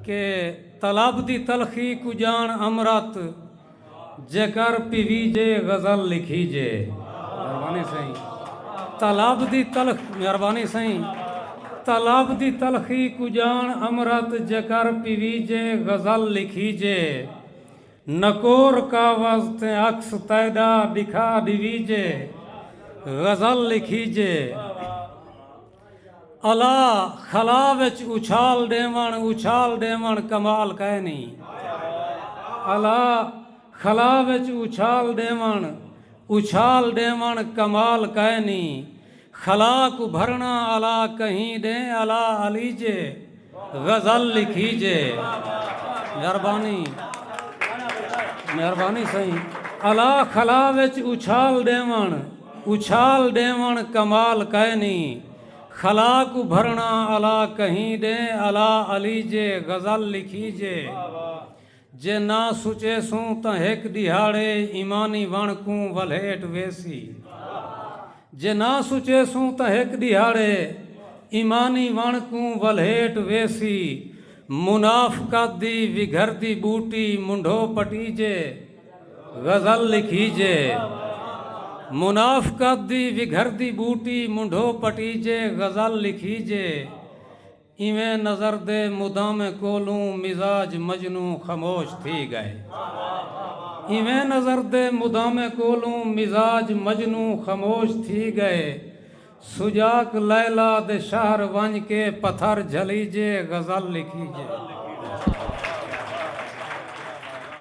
کہ طلب دی تلخی کوں ڄاݨ امرت جیکر پیویجے غزل لکھیجے مہربانی سئیں طلب دی تلخ مہربانی سئیں طلب دی تلخی کوں ڄاݨ امرت جیکر پیویجے غزل لکھیجے نکور کاوز تے عکس تیݙا ݙکھا ݙیویجے غزل لکھیجے الا خلا وچ اچھال ڈیون اچھال ڈیون کمال کائے نہیں الا خلا وچ اچھال ڈیون اچھال ڈیون کمال کائے نہیں خلا کو بھرنا الا کہیں ڈیں الا علیجے غزل لکھی جے مہربانی مہربانی سائیں الا خلا وچ اچھال ڈیون اچھال ڈیون کمال کائے نی خلا کو بھرنا الا کہیں ڈیں الا علی جے غزل لکھی جے جے نہ سچیسوں تاں ہک ݙیہاڑے ایمانی وݨ کوں ولھیٹ ویسی۔ جے نہ سچیسوں تاں ہک ݙیہاڑے ایمانی وݨ کوں ولھیٹ ویسی۔ منافقت دی وگھردی ٻوٹی منڈھو پٹیجے، غزل لکھیجے۔ منافقت دی وگھردی ٻوٹی منڈھو پٹیجے، غزل لکھیجے۔ ایویں نظر دے مدامیں کولوں مزاج مجنوں خموش تھی گئے ایویں نظر دے مدامیں کولوں مزاج مجنوں خموش تھی گئے سجاک لیلی دے شہر ونج کے پتھر جھلیجے غزل لکھیجے۔